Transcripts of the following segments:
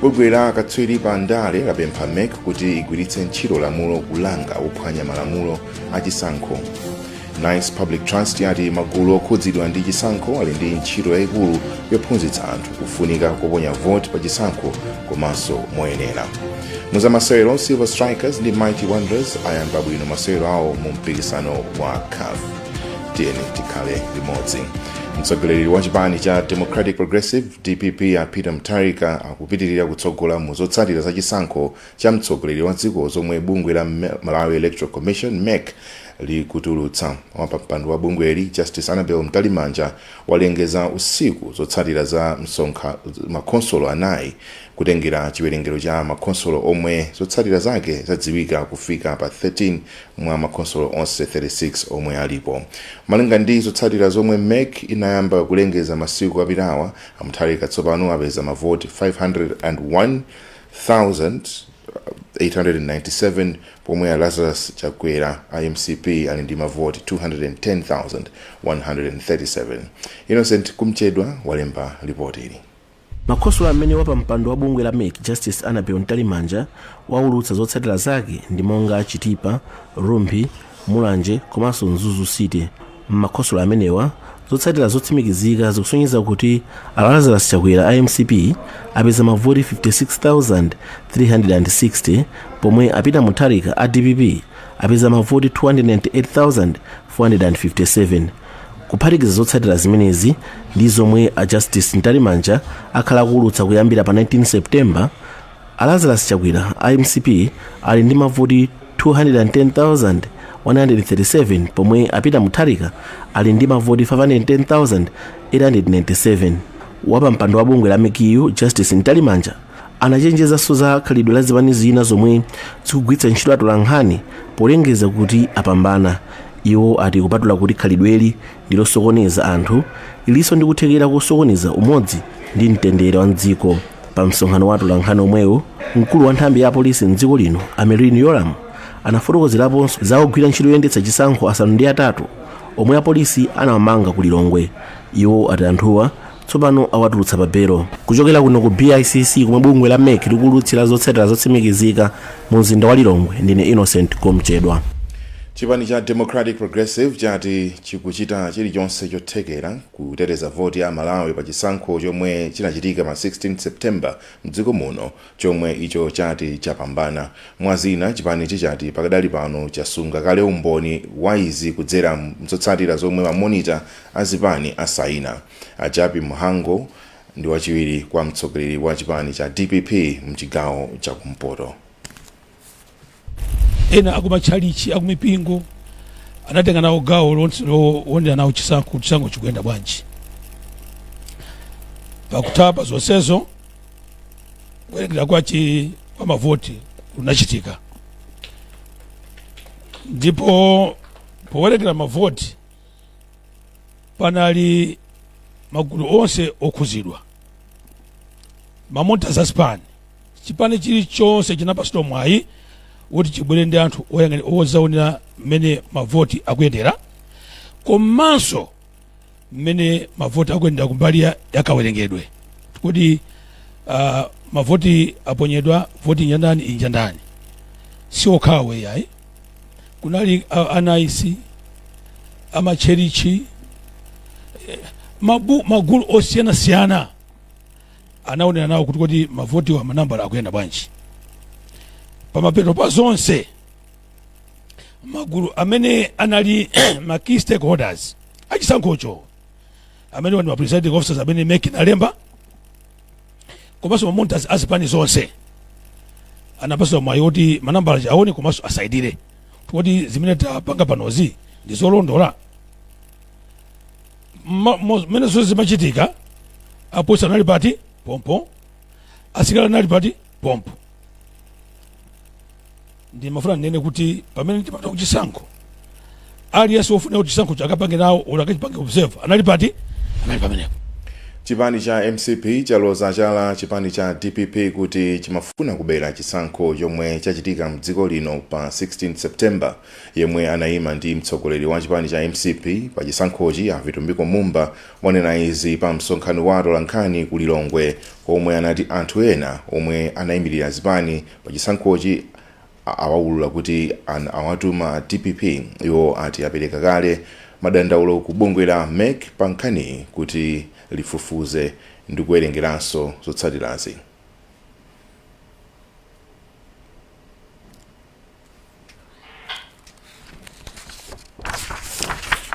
bungwe la akatswiri pa ndale lapempha mec kuti igwiritse ntchito lamulo kulanga ophwanya malamulo a chisankho nice public trust yati magulu okhudzidwa ndi chisankho ali ndi ntchito yayikulu yophunzitsa anthu kufunika koponya voti pa chisankho komanso moyenera muzamasewero silver strikers ndi mighty wanderers ayamba bwino masewero awo mu mpikisano wa caf tiyeni tikhale limodzi mtsogoleri wa chipani cha democratic progressive Dpp a Peter Mutharika akupitilira kutsogola mu zotsatira za chisankho cha mtsogoleri wa dziko zomwe bungwe la Malawi Electoral Commission, mec, likutulutsa. Wapampando wa bungweli, Justice Annabel Mtalimanja walengeza usiku zotsatira za msonkha makhonsolo anayi kutengera chiwerengero cha makhonsolo omwe zotsatira zake zadziwika kufika pa 13 mwa makhonsolo onse 36 omwe alipo. Malinga ndi zotsatira zomwe mec inayamba kulengeza masiku apitawa, a Mutharika tsopano apeza mavoti 501,897 pomwe a Lazarus Chakwera a mcp ali ndi mavoti 210,137. Innocent Kumchedwa walemba lipotili. Makhonsolo amene wapampando wa bungwe la mec Justice Annabel Mtalimanja waulutsa zotsatira zake ndi monga Chitipa, Rumphi, Mulanje komanso Mzuzu City. M'makhonsolo amenewa, zotsatira zotsimikizika zikusonyeza kuti a Lazarus Chakwera a mcp apeza mavoti 56,360 pomwe a Peter Mutharika a dpp apeza mavoti 298,457. Kuphatikiza zotsatira zimenezi ndi zomwe a Justice Mtalimanja akhala akuulutsa kuyambira pa 19 September, a Lazarus Chakwera a mcp ali ndi mavoti 210,137 pomwe a Peter Mutharika ali ndi mavoti 510,897. Wapampando wa bungwe la mec-yu Justice Mtalimanja anachenjezanso za khalidwe la zipani zina zomwe zikugwiritsa ntchito atolankhani polengeza kuti apambana iwo ati kupatula kuti khalidweli ndilosokoneza anthu lilinso ndi kuthekera kosokoneza umodzi ndi mtendere wa mdziko pa msonkhano wa atolankhani omwewo mkulu wa nthambi ya apolisi mdziko lino a merlyne yolamu anafotokozeraponso za ogwira ntchito yoyendetsa chisankho asanu ndi atatu omwe apolisi anawamanga ku lilongwe iwo ati anthuwa Tsopano awatulutsa pa belo. Kuchokera kuno ku BICC komwe bungwe la mec likuwulutsira zotsatira zotsimikizika mu mzinda wa Lilongwe, ndine Innocent Kumchedwa. Chipani cha Democratic Progressive chati chikuchita chilichonse chothekera kuteteza voti ya aMalawi pa chisankho chomwe chinachitika pa 16 September mdziko muno. chomwe icho chati chapambana. Mwa zina, chipanichi chati pakadali pano chasunga kale umboni wa izi kudzera m'zotsatira zomwe ma monitor a zipani asayina. A Jappie Mhango ndi wachiwiri kwa mtsogoleri wa chipani cha dpp m'chigawo cha kumpoto. ena akumatchalichi akumipingo anatenga nawo gawo lonse lowonera nawo chisankho kuti chisankho chikuyenda bwanji pakutha pa zonsezo kuwerengera kwachi kwa mavoti kunachitika ndipo powerengera mavoti panali magulu onse okhuzidwa ma monitor azipani chipani chilichonse chinapatsidwa mwayi woti chibwere ndi anthu oyang'ani odzaonera mmene mavoti akuyendera komanso mmene mavoti akuyendera kumbali ya yakawerengedwe kuti uh, mavoti aponyedwa voti njandani injandani si okhawo yayi kunali uh, ana NICE amatchalitchi eh, mabu, magulu osiyanasiyana anaonera nawo kuti kodi mavotiwa manambala akuyenda bwanji pamapeto pa zonse magulu amene anali ma key stakeholders achisankhocho amene ndi ma presiding officers amene mec inalemba komanso ma monitors azipani zonse anapatsidwa mwayi oti manambala aja aone komanso asainire kuti zimene tapanga panozi ndi zolondola Ma- mo- mmene zonse zimachitika apolisi anali pati pompo asilikali anali pati pompo ndimafuna ndinene kuti pamene timapita kuchisankho aliyense wofuna kuti chisankho chakapange nawo olo akachipange observe anali pati anali pamenepo chipani cha mcp chaloza chala chipani cha dpp kuti chimafuna kubera chisankho chomwe chachitika mdziko lino pa 16 september Yemwe anaima ndi mtsogoleri wa chipani cha mcp pa chisankhochi a Vitumbiko Mumba wanena izi pa msonkhano wa atolankhani ku Lilongwe komwe anati anthu ena omwe anaimilira zipani pa chisankhochi awaulula kuti anawatuma a dpp. Iwo ati apereka kale madandaulo ku bungwe la mec pa nkhaniyi kuti lifufuze ndikuwerengeranso zotsatirazi.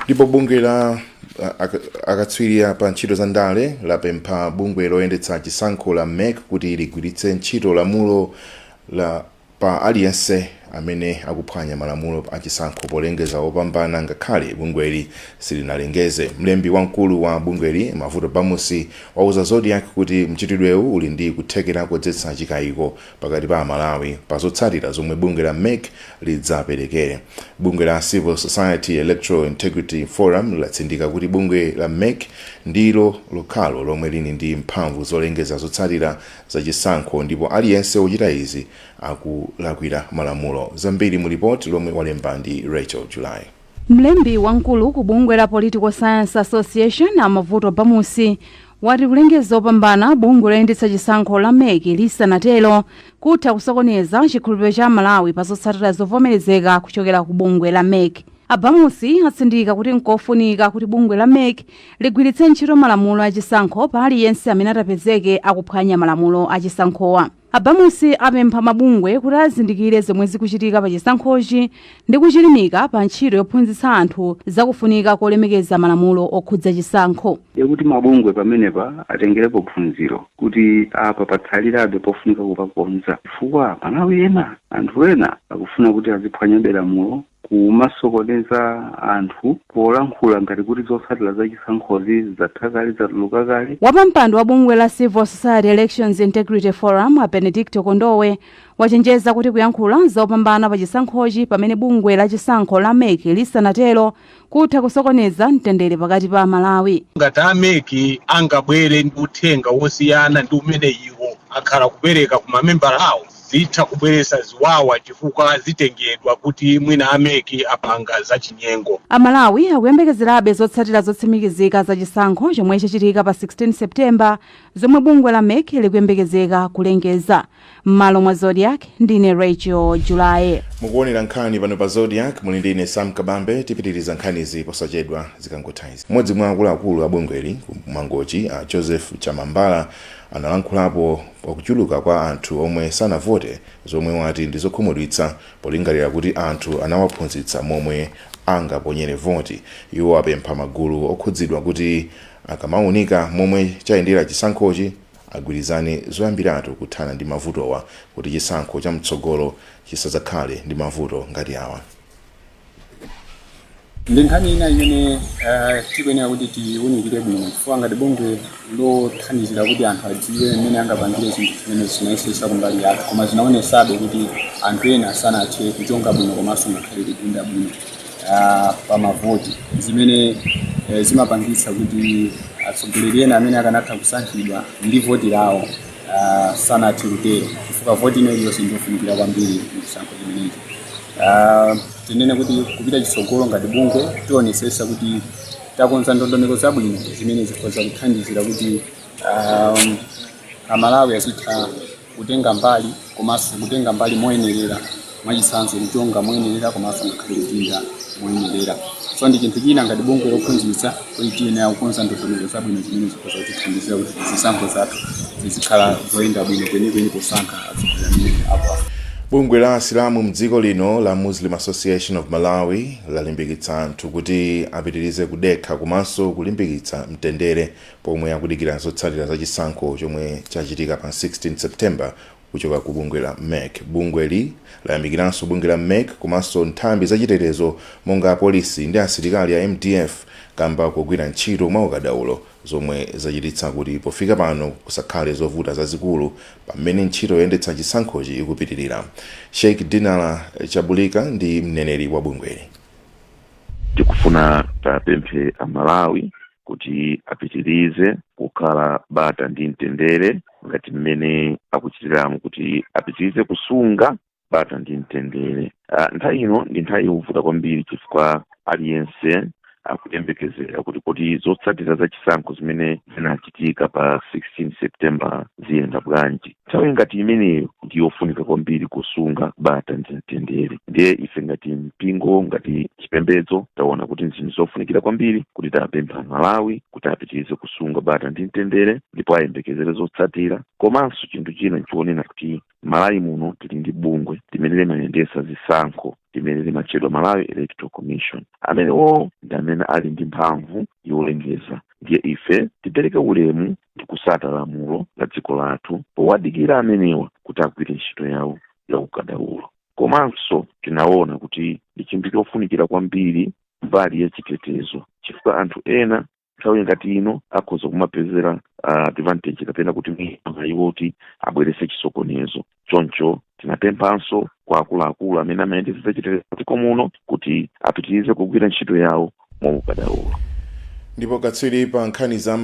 ndipo bungwe la a- aka- akatswiri pa ntchito za ndale lapempha bungwe loyendetsa chisankho la mec kuti ligwiritse ntchito lamulo pa aliyense amene akuphwanya malamulo a chisankho polengeza opambana ngakhale bungweli silinalengeze mlembi wamkulu wa bungweli mavuto bamusi wauza zodiak kuti mchitidwewu uli ndi kuthekera kodzetsa chikayiko pakati pa amalawi pa zotsatira zomwe bungwe la mec lidzapereke. Bungwe la Civil Society Electoral Integrity Forum latsindika kuti bungwe la mec ndilo lokhalo lomwe lili ndi mphamvu zolengeza zotsatira za chisankho ndipo aliyense wochita izi akulakwira malamulo. Zambiri mu lipoti lomwe walemba ndi Rachel Julaye. Mlembi wamkulu ku bungwe la Political Science Association a Mavuto Bamusi wati kulengeza opambana bungwe loyendetsa chisankho la mec lisanatero kutha kusokoneza chikhulupiriro cha Amalawi pa zotsatira zovomerezeka kuchokera ku bungwe la mec. A Bamusi atsindika kuti nkofunika kuti bungwe la mec ligwiritse ntchito malamulo a chisankho pa aliyense amene atapezeke akuphwanya malamulo a chisankhowa. A Bamusi apempha mabungwe kuti azindikire zomwe zikuchitika pa chisankhochi ndi kuchilimika pa ntchito yophunzitsa anthu za kufunika kolemekeza malamulo okhudza chisankho. Ndiye kuti mabungwe pamenepa atengerepo phunziro kuti apa patsalirabe pofunika kupakonza chifukwa Amalawi ena, anthu ena akufuna kuti aziphwanyabe lamulo kumasokoneza anthu polankhula ngati kuti zotsatira za chisankhozi zatha kale, zatuluka kale. Wapampando wa bungwe la Civil Society Elections Integrity Forum a Benedicto Kondowe wachenjeza kuti kuyankhula za opambana pa chisankhochi pamene bungwe la chisankho la mec lisanatero kutha kusokoneza mtendere pakati pa Amalawi. ngati a mec angabwere ndi uthenga wosiyana ndi umene iwo akhala akupereka ku mamembala awo zitha kubweretsa ziwawa chifukwa zitengedwa kuti mwina a mec apanga zachinyengo. Amalawi akuyembekezerabe zotsatira zotsimikizika za chisankho chomwe chachitika pa 16 September zomwe bungwe la mec likuyembekezeka kulengeza. M'malo mwa Zodiak, ndine Rachel Julaye. Mukuonera nkhani pano pa Zodiak, muli ndi ine Sam Kabambe. Tipitiriza nkhanizi posachedwa zikangotha izi. Mmodzi mwa akuluakulu a bungweli m'Mangochi, a Joseph Chamambala, analankhulapo pa kuchuluka kwa anthu omwe sanavote zomwe wati ndi zokhumudwitsa polingalira kuti anthu anawaphunzitsa momwe angaponyere voti. Iwo apempha magulu okhudzidwa kuti akamaunika momwe chayendera chisankhochi agwirizane zoyambiratu kuthana ndi mavutowa kuti chisankho chamtsogolo chisadzakhale ndi mavuto ngati awa. ndi nkhani ina imene eh, tikuyenera kuti tiwunikire bwino chifukwa ngati bungwe lothandizira kuti anthu adziwe mmene angapangire zinthu zimene tinayesesa kumbali yathu koma zinaonesabe kuti anthu ena sanathe kuchonga bwino komanso ngakhale kupinda bwino ah, pa mavoti zimene eh, zimapangitsa kuti atsogoleri ena amene akanatha kusankhidwa ndi voti lawo ah, sanathe kutero chifukwa voti ino iliyonse ndiyofunikira kwambiri m'chisankho chimenechi Ah, tinene kuti kupita chitsogolo ngati bungwe tionesesa kuti takonza ndondomeko zabwino zimene zikhoza kuthandizira kuti um, amalawi azitha kutenga mbali komanso kutenga mbali moyenerera mwachitsanzo kuchonga moyenerera komanso ngakhale kupinda moyenerera so ndi chinthu china ngati bungwe lophunzitsa Kuti tiyenera kukonza ndondomeko zabwino zimene zikhoza kutithandizira kuti zisankho zathu zizikhala zoyenda bwino kwenikweni posankha atsogoleri amene akufuna? Bungwe la asilamu mdziko lino la Muslim Association of Malawi lalimbikitsa anthu kuti apitirize kudekha komanso kulimbikitsa mtendere pomwe akudikira zotsatira za chisankho chomwe chachitika pa 16 September Kuchoka ku bungwe la mec, bungweli layamikiranso bungwe la mec komanso nthambi za chitetezo monga apolisi ndi asilikali a mdf kamba kogwira ntchito mwaukadaulo zomwe zachititsa kuti pofika pano kusakhale zovuta zazikulu pa mmene ntchito yoyendetsa chisankhochi ikupitilira. Sheikh Dinala Chabulika ndi mneneri wa bungweli. Tikufuna tiwapemphe a Malawi kuti apitirize kukhala bata ndi mtendere ngati mmene akuchitiramu kuti apitirize kusunga bata ndi mtendere uh, nthawi ino ndi nthawi yovuta kwambiri chifukwa aliyense akuyembekezera kuti kuti zotsatira za chisankho zimene zinachitika pa 16 september ziyenda bwanji nthawi ngati imeneyo ndi yofunika kwambiri kusunga bata ndi mtendere ndiye ife ngati mpingo ngati chipembedzo taona kuti ndi zinthu zofunikira kwambiri kuti tiwapemphe amalawi kuti apitirize kusunga bata ndi mtendere ndipo ayembekezere zotsatira komanso chinthu china nchonena kuti malawi muno tili ndi bungwe limene limayendesa zisankho limene limatchedwa malawi electoral commission amenewo ndi amene ali ndi mphamvu yolengeza ndiye ife tipereke ulemu ndi kusata lamulo la dziko lathu powadikira amenewa kuti agwire ntchito yawo ya ukadaulo komanso tinaona kuti ndi chinthu chofunikira kwambiri mbali ya chitetezo chifukwa anthu ena nthawi ngati ino akhoza kumapezera ah, advantage kapena kuti mwayi iwo kuti abwerese chisokonezo choncho tinapemphanso kwa akuluakulu amene amayendetsa chitetezo m'dziko muno kuti apitirize kugwira ntchito yawo mwaukadaulo ndipo katswiri pa nkhani za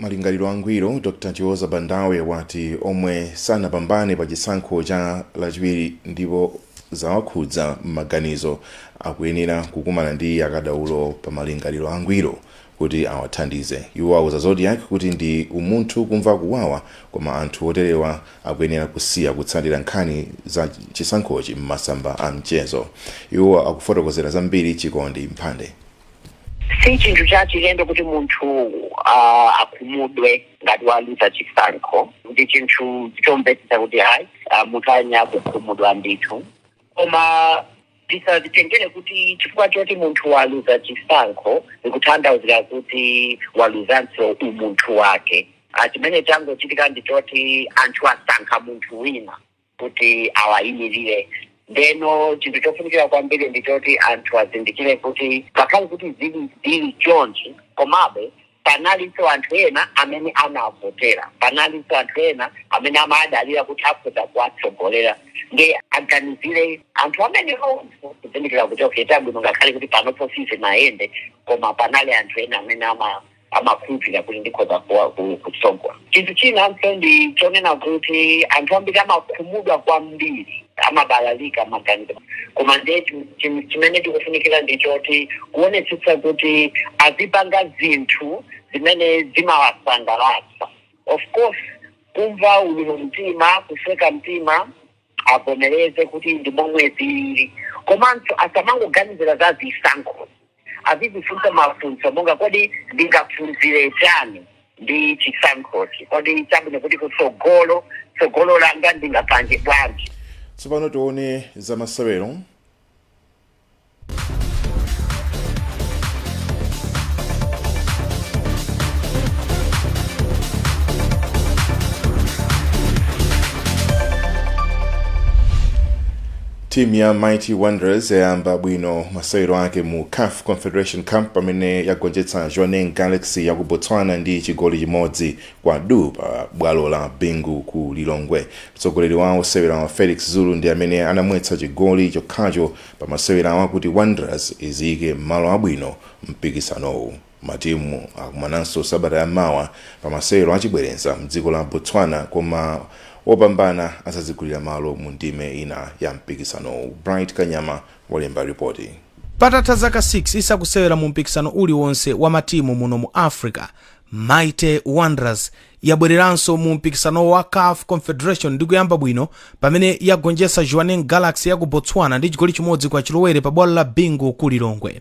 malingaliro angwiro dr chiwoza bandawe wati omwe sanapambane pa chisankho cha lachiwiri ndipo zawakhudza m'maganizo akuyenera kukumana ndi akadaulo pa malingaliro angwiro kuti awathandize. Iwo auza Zodiak kuti ndi umunthu kumva kuwawa koma anthu oterewa akuyenera kusiya kutsatira nkhani za chisankhochi m'masamba a mchezo. Iwo akufotokozera zambiri Chikondi Mphande. Si chinthu chachilendo kuti munthu akhumudwe ngati waluza chisankho. Ndi chinthu chomvetsetsa kuti munthu ayenera kukhumudwa ndithu koma. Tisazitengere kuti chifukwa choti munthu waluza chisankho zikuthandauzira kuti waluzanso umunthu wake. Chimene changochitika ndi choti anthu asankha munthu wina kuti awayimirire. Ndeno chinthu chofunikira kwambiri ndi choti anthu azindikire kuti ngakhale kuti zili chonchi komabe Panalinso anthu ena amene anawavotera. Panalinso anthu ena amene amadalira kuti akhoza kuwatsogolera. Ndiye aganizire anthu amenewo. Kuzindikira kuti, okay, chabwino ngakhale kuti panopo sizinayende koma panali anthu ena amene amakhulupirira kuti ndikhoza kutsogola. Chinthu chinanso ndi chonena kuti anthu ambiri amakhumudwa kwambiri, amabalalika maganizo. Koma ndiye chinthu chimene tikufunikira ndi choti kuonetsetsa kuti azipanga zinthu zimene zimawasangalatsa. Of course kumva ululu mu mtima, kusweka mtima. avomereze kuti ndi momwe zilili komanso asamangoganizira za zisankhozi azizifunsa mafunso monga kodi ndingaphunzire chiyani ndi chisankhochi kodi chabwino kuti kutsogolo tsogolo langa ndingapange bwanji Tsopano tione za masewero. timu ya mighty wanderers yayamba bwino masewero ake mu caf confederation cup pamene yagonjetsa jwaneng galaxy ya ku botswana ndi chigoli chimodzi Kwa du pa bwalo la Bingu ku Lilongwe. Mtsogoleri wa osewerawa Felix Zulu ndi amene anamwetsa chigoli chokhacho pa masewerawa kuti Wanderers iziyike m'malo abwino mpikisanowu. Matimu akumananso sabata ya mawa pa masewero achibwereza mdziko la Botswana koma wopambana adzazigulira malo mu ndime ina ya mpikisanowu. Bright Kanyama walemba ripoti. Patatha zaka 6 isakusewera mu mpikisano uliwonse wa matimu muno mu Africa, Mighty Wanderers yabwereranso mu mpikisano wa caf Confederation ndi kuyamba bwino pamene yagonjetsa Jwaneng Galaxy ya ku Botswana ndi chigoli chimodzi kwa chilowere pa bwalo la Bingu ku Lilongwe.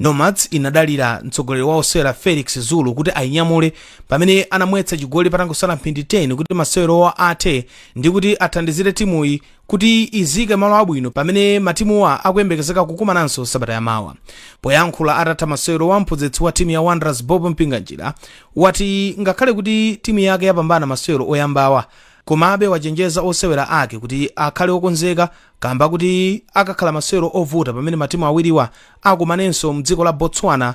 Nomads inadalira mtsogoleri wa osewera Felix Zulu kuti ayinyamule pamene anamwetsa chigoli patangosala mphindi 10 kuti masewerowa athe ndi kuti athandizire timuyi kuti idziike malo abwino pamene matimuwa akuyembekezeka kukumananso sabata yamawa poyankhula atatha masewerowa mphunzitsi wa timu ya wanderers bob mpinganjira wati ngakhale kuti timu yake yapambana masewero oyambawa komabe wachenjeza osewera ake kuti akhale okonzeka kamba kuti akakhala masewero ovuta pamene matimu awiriwa akakumanenso mdziko la botswana